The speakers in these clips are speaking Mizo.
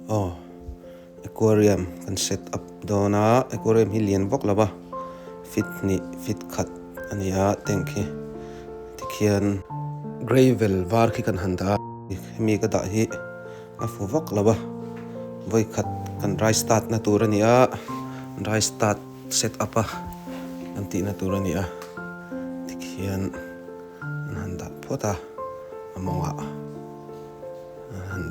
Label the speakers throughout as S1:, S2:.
S1: Aw, aquarium kan set up dawn a, aquarium hi lian vak lo a, feet hnih feet khat a ni a tank hi, tikhian gravel var khi kan han dah a, hemi ka dah hi a fu vak lo a, vawi khat kan rai start na tur a ni a, rai start set up a kan tih na tur a ni a, tikhian an han dah phawt a a mawngah. An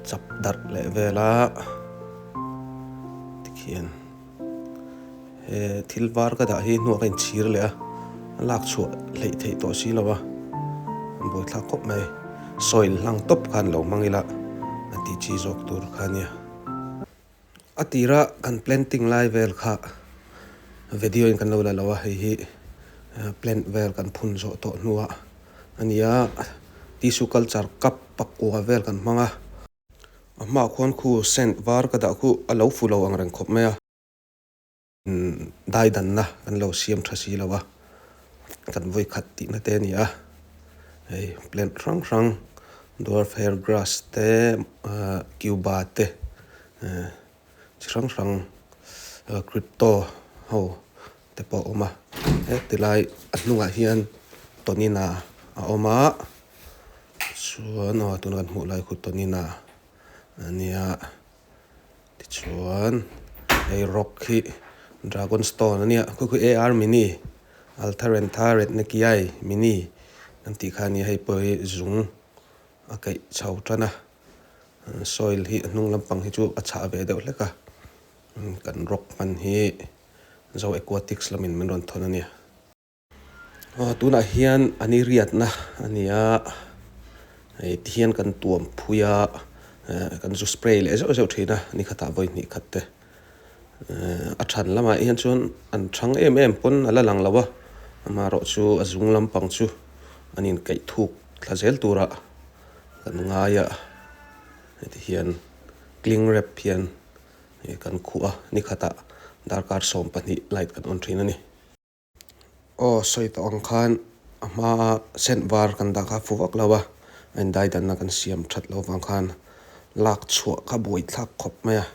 S1: chap darh leh vel a, tikhian he thil var ka dah hi hnuah ka inchhir leh a, a lak chhuah hleih theih tawh si lo a, an buai thlak khawp mai, sawi hlang tawp khan lo hmang ila a tih chi zawk tur kha nia. A tirah kan planting lai vel kha video in kan lo la lo a, hei hi plant vel kan phun zawh tawh hnua a ni a, tissue culture cup pakua vel kan hmang a, a hmaah khuan khu scent var ka dah khuh a lo fu lo ang reng khawp mai a. Daidanna kan lo siam tha si lo a, kan vawikhat tihna te a ni a, hei plant hrang hrang dwarf hair grass te, cuba te, chi hrang hrang crypto ho te pawh a awm a, heti lai a hnungah hian tonina a awm a, chuan aw tuna kan hmuh lai khu tonina a nia. Tichuan hei rock hi dragon stone a nia khawkhawh e army ni altaren tha ret na ki ai mi ni kan tih kha a nia hei pawh hi zung a kaih chho tan a soil hi a hnung lampang hi chu a chhah ve deuh hlek a kan rock hman hi zo aquatics lam in min rawn thawn a nia. Tunah hian an i riatna a ni a, hei ti hian kan tuam phui a, kan zu spray leh zeuh zeuh thin a, ni khatah vawi hnih khat te. A chhan lamah hian chuan an chhang em em pawn a la lang lo a, amaherawh chu a zung lampang chu an inkaih thuk thla zel turah kan ngai a, hei ti hian cling wrap hian kan khuh a, ni khatah darkar sawm pahnih light kan on thin a ni. Aw sawi tawh ang khan a hma a scent var kan dah kha fuh vak lo a, a indai danna kan siam that lo vang khan lak chhuah kha buai thlak khawp mai a,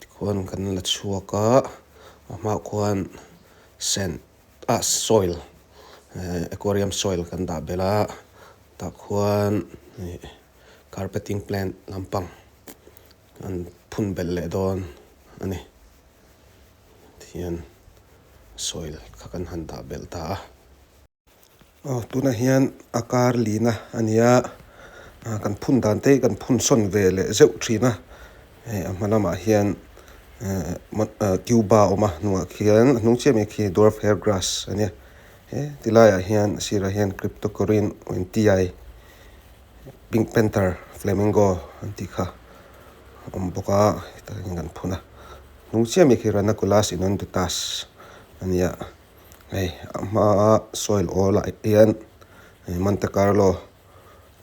S1: tikhuan kan la chhuak a, a hmah khuan scent ah soil ehh aquarium soil kan dah belh a, tah khuan ih carpeting plant lampang an phun belh leh dawn a ni. hian soil kha kan han dah belh ta a. Aw tuna hian a kar lina a nia aah kan phun dan te hi kan phun sawn ve leh zeuh thin a. Hei a hma lamah hian ehh cuba a awm a hnungah khian a hnung chiah mai khi dwarf hair grass a nia he ti laiah hian a sirah hian cryptocorin N T I. Pink panther flamingo an tih kha a awm bawk a heta hian kan phun a hnung chiah mai khi ranunculus inundutas a ni a hei a hmaa soil awl ah hian ehh monte carlo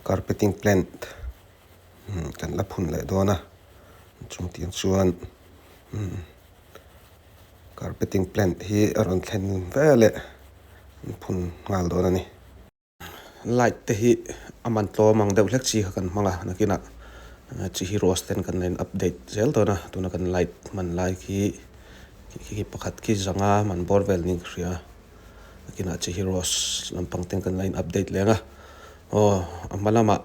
S1: carpeting plant umm kan la phun leh dawn a chung tih chuan umm carpeting plant hi a rawn thlen ve leh phun nghal dawn a ni. Light te hi a man tlawm ang deuh hlek chi kha kan hmang a, nakinah chi hi rose ten kan la in update zel dawn a, tuna kan light man lai khi khi pakhat khi zanga man bawr vel ni ka hria, nakinah chi hi rose lampang ten kan la in update leng a, aw a hma lamah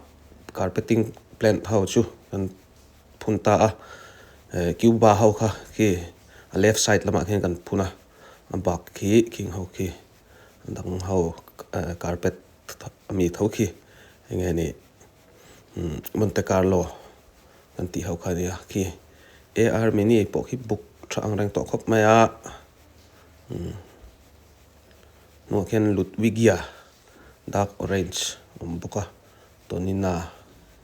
S1: carpeting plant ho chu kan phun ta a, cuba ho kha khi a left side lamah khian kan phun a, a bak khi khi ho khi. dang ho carpet a mi tho khi eng nge nih Monte Carlo kan tih ho kha a nia khi AR mini pawh khi buk tha ang reng tawh khawp mai a hnungah khian Ludwigia dark orange a awm bawk a Tonina.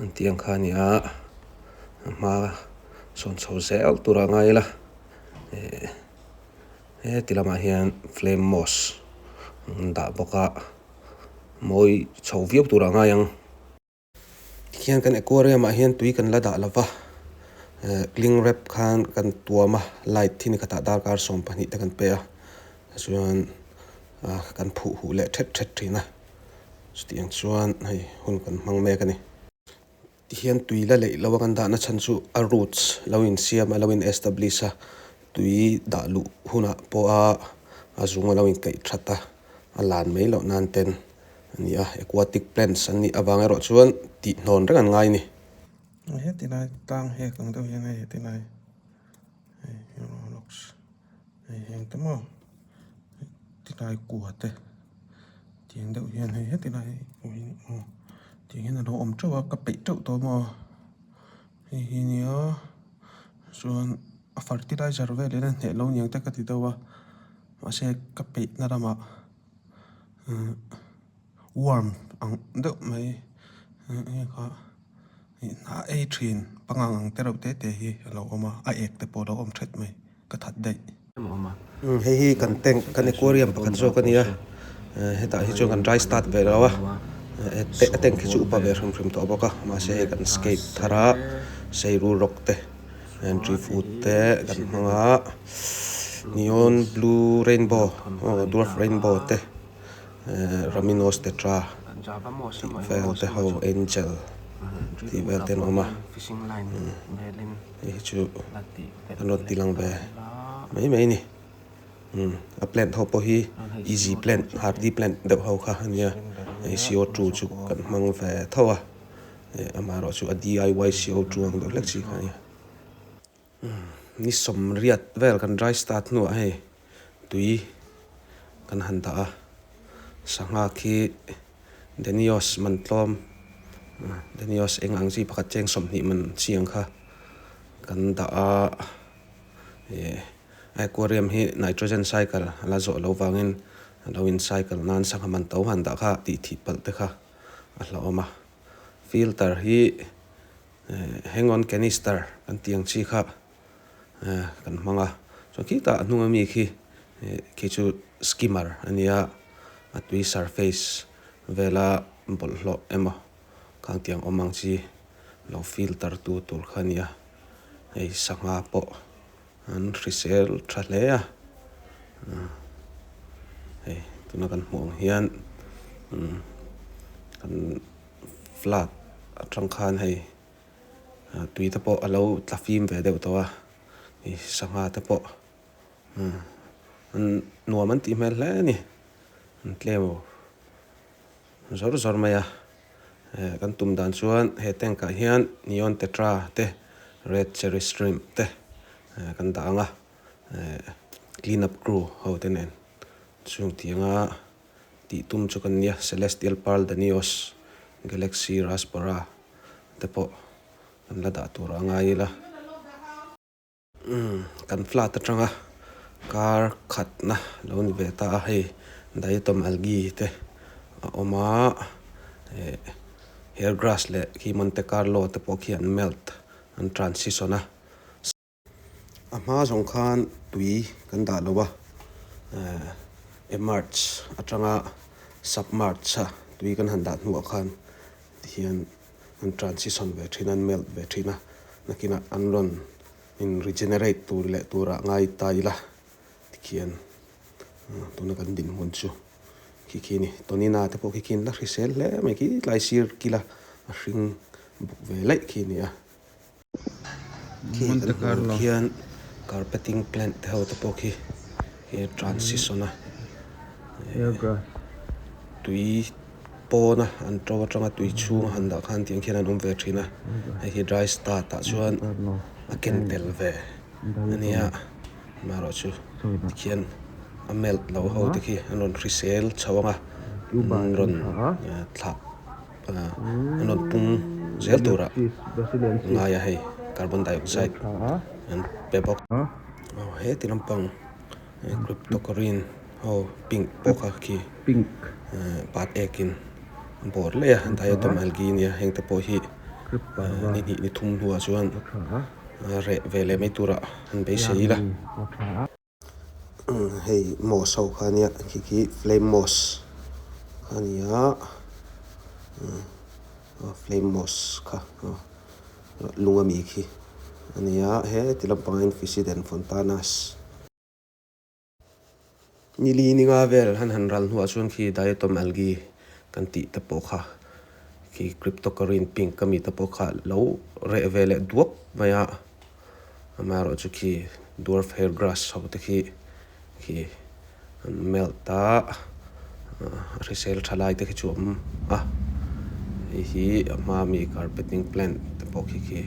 S1: an tih ang kha a nia a hma sawn chho zel tur a ngai la eh heti lamah hian flame mosque an dah bawk a mawi chho viau tur a ngai ang tikhian kan aquarium ah hian tui kan la dah lova eh cling wrap khan kan tuam a light thi ni khatah darkar sawm pahnih te kan pe a tichuan ah kan phuh huh leh thet thet thin a. Chutih ang chuan hei hun kan hmang mek a ni. Tihian tui la leih lo ang an dahna chhan chu a roots lo insiam a lo in establish a, tui dah luh hunah pawha a zung a lo inkaih that a, a lan mai loh nan ten a ni a. Aquatic plants an nih avang erawh chuan tihnawn reng an ngai a ni. Heti lai tlang hek ang deuh hian hei heti lai hei hi rawh rocks. Hei hi engta maw tilai kua te tiang deuh hian hei heti lai pawh hi aw tih hian alo awm teuh a ka peih teuh tawh maw hei hi nia chuan a fertilizer velin a hneh loh niang te ka ti deuh a mahse ka peihna lamah umm-- Warm ang deuh mai enge kha i hna ei thin pangngang ang te reuh te te hi a lo awm a, a ek te pawh a lo awm ṭhet mai, ka that daih. Umm hei hi kan tank kan aquarium pakhat zawk a nia, hetah hi chuan kan dry start ve lo a, a tank hi chu upa ve hrim hrim tawh bawk a, mahse hei kan skate thar a, seiru rock te tree food te kan hmang a, neon blue rainbow aw dwarf rainbow te Raminos tetra tih vel te ho angel tih vel te an awm a hei hi chu a nawt tih lang ve mai mai a ni umm a plant ho pawh hi easy plant hardy plant deuh ho kha a nia hei co two chu kan hmang ve tho a eh amaherawhchu a D_I_Y co two ang deuh hlek chi kha a nia. Ni sawm riat vel kan dry start hnuah hei tui kan han dah a, sangha khi Denios man tlawm, Denios eng ang chi pakhat cheng sawmhnih man chi ang kha kan dah a, aquarium hi nitrogen cycle a la zawh lo vangin a lo in cycle nan sangha man to han dah kha tih thih palh te kha a hla awm a, filter hi. hang on canister kan tih ang chi kha kan hmang a chuan khitah a hnunga mi khi khi chu skimmer a nia a tui surface vela bawlhhlawh emaw khang tiang awm ang chi lo feel tar tu tur kha a nia hei sangha pawh-- An hrisel tha hle a hei tuna kan hmuh ang hian umm kan flat atang khan hei tui te pawh a lo tla fim ve deuh tawh a hei sangha te pawh umm an nuam an tih hmel hle a ni an tlem aw. zawr zawr mai a, kan tum dan chuan he tank ah hian neon tetra te red cherry shrimp te kan dah ang a, clean up crew ho te nen chhung thiang a tih tum chu kan nia celestial pearl danios galaxy raspberry te pawh kan la dah tur a ngai ila. Kan flat atanga kar khatna lo ni ve ta a hei diatom algae te a awm a eh hair grass leh khi monte carlo te pawh khi an melt an transition a a hma zawng khan tui kan dah lo va eh e march atanga sub march a tui kan han dah hnuah khan tihian an transition ve thin a, an melt ve thin a, nakinah an rawn in regenerate tur leh turah ngai ta ila tikhian tuna kan dinhmun chu khi khi a ni. Tonina te pawh khi khi in la hrisel hle mai khi tlai sir kila a hring bawk ve laih khi a ni a. Khi kan hmuh ang khian carpeting plant te ho te pawh khi he transition a tui pawn a an to atanga tui chhung a han dah khan tiang khian an awm ve thin a hei hi dry start ah chuan a ken tel ve a nia mah ruah chu tikhian a melt loh ho te khi an rawn hrisel chho ang a an rawn thlah. rawn pung zel turah ngai a hei carbon dioxide an pe bawk a aw heti lampang cryptocurrin ho pink pawh kha khi pink ehh pat ekin a bawr leh a diatom algae nia heng te pawh hi ni hnih ni thum hnuah chuan reh ve leh mai turah an beisei ila. hei moss ho kha nia khi khi flame moss kha a ni a ah flame moss kha ah lung a mi khi a ni a heti lam pang hian fisiden fontanas nili ni nga vel han han ral hnuah chuan khi diatom algae kan tih te pawh kha khi cryptocurrency pink a mi te pawh kha lo reh ve leh duap mai a. amaherawhchu khi dwarf hair grass ho te khi khi an melt a a hrisel tha lai te khi chu a awm a hei hi a hma ami carpeting plant te pawh khi khi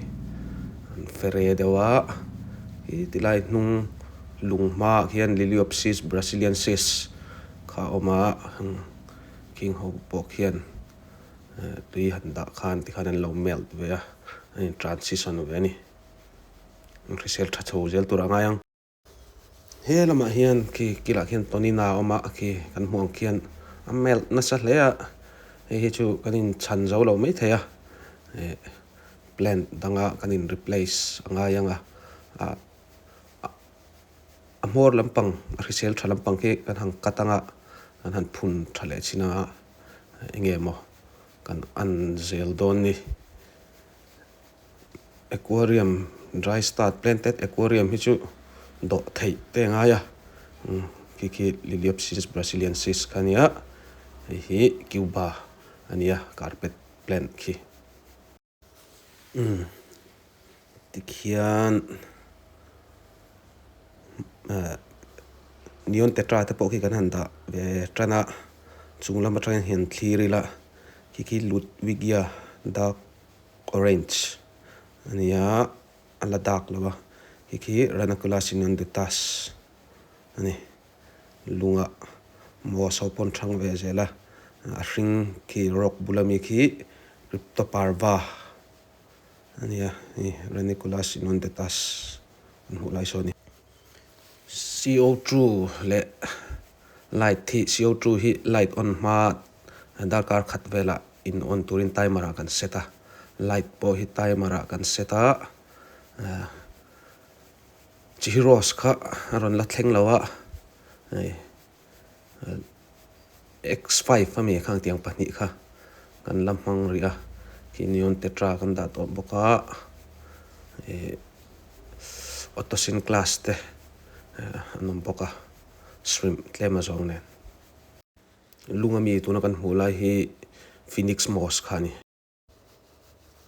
S1: an fere deuh a khi ti lai hnung lung hmaah khian liliopsis brasiliensis kha a awm a khi ho pawh khian-- tui han dah khan tikhan an lo melt ve a, an in transition ve a ni. An hrisel tha chho zel tur a ngai ang. He lamah hian khi kilah khian Tonina a awm a, khi kan hmuh ang khian a melt nasa hle a, hei hi chu kan in chhan zo lo mai thei a, plant danga kan in replace a ngai ang a, a hmawr lampang a hrisel tha lampang khi kan han cut ang a, kan han phun tha leh chin ang a. enge emaw kan an zel dawn ni. Aquarium dry start planted aquarium hi chu dawh theih te ngai a khi khi Liliopsis brasiliensis kha nia hei hi Cuba ania carpet plant khi. Tikhian neon te ṭate pawh khi kan han dah ve ṭan a, chung lam aṭangin hian thlir ila khi khi lut wigia dark orange a ni a, a la dark lo a khi khi ranakulasinaduttash a ni. lungah maw so pawn hrang ve zel a, a hring khi rock bula mi khi Crypto Parva a nia, hei Reniculus inundatus kan hmuh lai sawn a ni. CO two leh light hi, CO two hi light on hma darkar khat velah in on turin timer ah kan set a, light pawh hi timer ah kan set a, Chi hi Rose kha a rawn la thleng lo a, hei X five a mi kha ang tiang pahnih kha kan la hmang ri a, khi neon tetra kan dah tawh bawk a, Autosyn class te an awm bawk a, shrimp tlem a zawng nen. Lung a mi tuna kan hmuh lai hi Phoenix Moss kha a ni.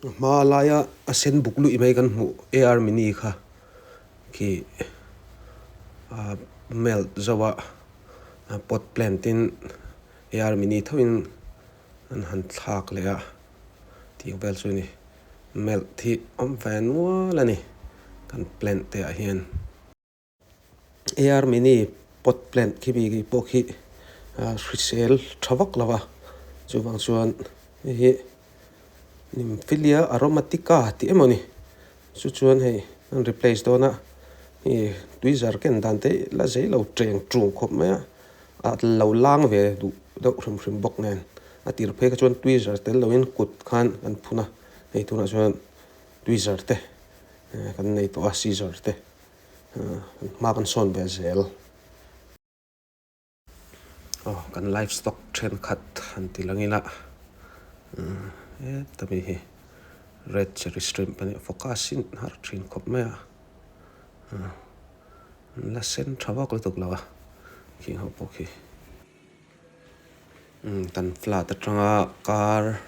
S1: A hma laia a sen buk luih mai kan hmuh AR mini kha khi a melt zauh a, pot plant in AR mini thauhin an han thlak leh a tih vel chu ni. Melt hi awm ve nual a ni kan plant te ah hian. Ei army ni pot plant khi mi pawh khi hrisel tha vak lo a, chuvang chuan hei hi nymphelia aromatica tih emaw ni chu chuan hei an replace dawn a, hei tui zar ken dan te la zai lo cheng chung khawp mai a, a lo lang ve duh deuh hrim hrim bawk nen a tir phei kha chuan tui zar tel lo in kut khan kan phun a, hei tunah chuan tui zar te kan nei tawh a season te. Hma kan sawn ve zel. Aw kan livestock thenkhat an ti la ngila. Heta mi hi red cherry shrimp a nih fawk a, a sin har thin khawp mai a. An la sen tha vak lutuk lo a, khi ho pawh khi. Kan flat atanga kar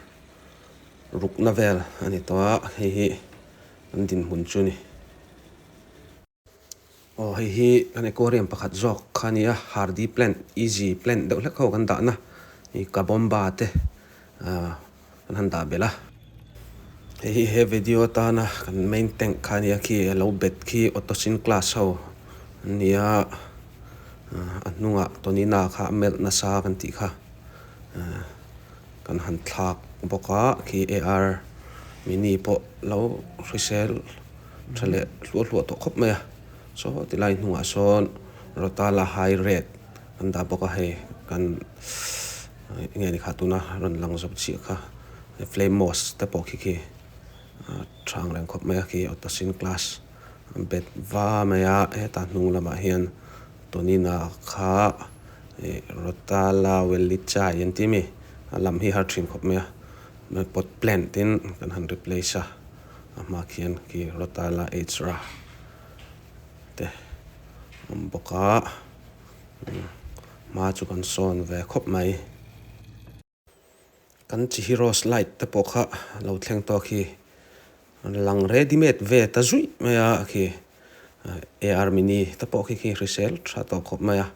S1: rukna vel a ni tawh a, hei hi kan dinhmun chu a ni. Aw hei hi kan aquarium pakhat zawk kha a ni a, hardy plant, easy plant deuh hlek ho kan dahna, hei kabomba te, aah. Kan han dah belh a. Hei hi he video atana kan main tank kha a nia khi a lo bet khi Otosin class ho an nia a hnunga Tonina kha a melh nasa kan tih kha kan han thlak bawk a khi AR mini pawh lo hrisel tha leh hluah hluah tawh khawp mai a saw ti lai hnungah sawn Rotala high red kan dah bawk a hei kan enge ni kha tuna rawn lang zawk chiah kha he flame moss te pawh khi khi ah chhang reng khawp mai a khi auto sin class bet va mai a hetah hnung lamah hian tunina kha ih rota la valley chai an tih mi a lam hi har thin khawp mai a mai pot plant in kan han replace a a hma khian khi rota la age ra te awm bawk a. hma chu kan sawn ve khawp mai kan chi hi rose light te pawh kha lo thleng tawh a khi a lang ready made ve ta zuih mai a a khi ar mini te pawh khi khi hrisel tha tawh khawp mai a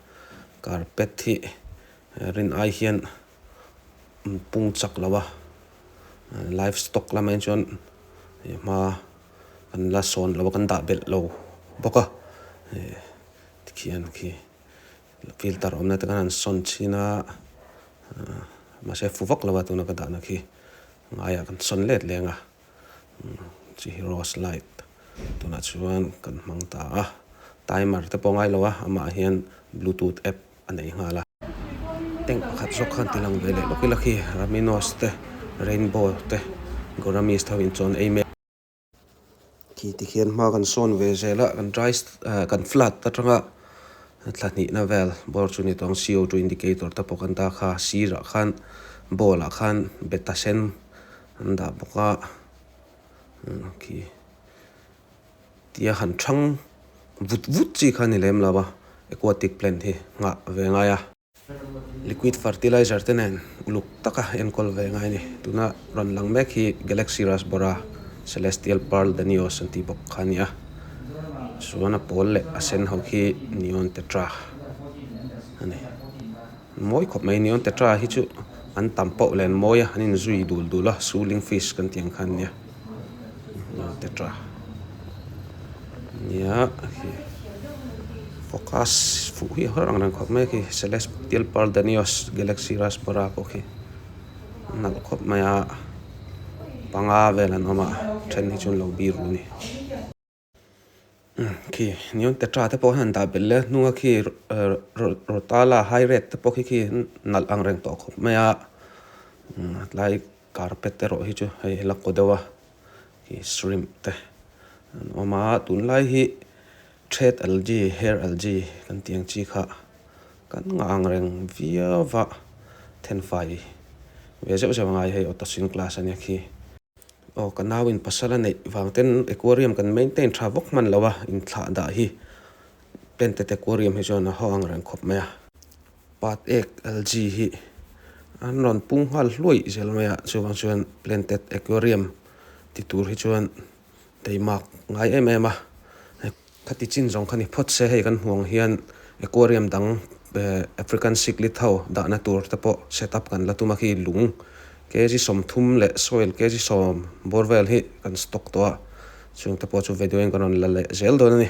S1: carpet hi rin ai hian pung chak lo va live stock lam ah hi chuan hma kan la sawn lo a kan dah belh lo bawk a. khian khi filter awm na te khan an sawn chhin a ah mahse fu vak lova tuna ka dah na khi ngaiah kan sawn let leng a umm chi hi rose light tunah chuan kan hmang ta a timer te pawh ngai lova amah hian bluetooth app a nei nghal a tank pakhat zawk khan ti lang ve leh lawk ila khi raminos te rainbow te goramist ho inchawhna ei mek. Khi tikhian hma kan sawn ve zel a, kan dry ah kan flood atanga thla hnihna vel bawr chu ni tawh ang. CO2 indicator te pawh kan dah kha a sirah khan bowl ah khan beta sen an dah bawk a. Khi tia han thang vut vut chi kha a ni lem lo a aquatic plant hi nghah ve ngai a. Liquid fertilizer te nen uluk taka enkawl ve ngai a ni. Tuna rawn lang mek hi Galaxy Rasbora, Celestial Pearl Danios an tih bawk kha a ni a. Chuan a pawl leh a sen ho khi Neon Tetra a ni. Mawi khawp mai. Neon Tetra hi chu an tam pawh len mawi a, an inzui dul dul a. Suling Fish kan tih ang kha an ni a. Tetra nia khi focus fuh hi har ang reng khawp mai khi celestial pearl danios galaxy raspberry pawh khi a nalh khawp mai a panga vel an awm a a then hi chu an lo bir rû a ni. khi neon petra te pawh hi a han dah belh le a hnung a khi rotala high red te pawh khi khi an nalh ang reng tawh khawp mai a a tlai carpet erawh hi chu hei a la kaw deuh a khi shrimp te an awm a tun lai hi red algae hair algae kan tih ang chi kha kan ngah ang reng viau a then fai ve zeuh zeuh a ngai hei auto sawing class a nia khi. Aw ka nau in pasal a neih vang ten aquarium kan maintain tha vawk hman lo a in thlah dah hi painted aquarium hi chuan a haw ang reng khawp mai a. Pat ek algae hi an rawn pung nghal hluaih zel mai a chuvang chuan planted aquarium ti tur hi chuan Teimak ngai em em a, he khati chin zawng kha ni phawt se hei kan hmuang hian aquarium dang African cichlid ho dahna tur te pawh set up kan la tum a khi lung kg sawmthum leh soil kg sawm borewell hi kan stock tawh a, chungte pawh chu video in kan rawn la leh zel dawn a ni.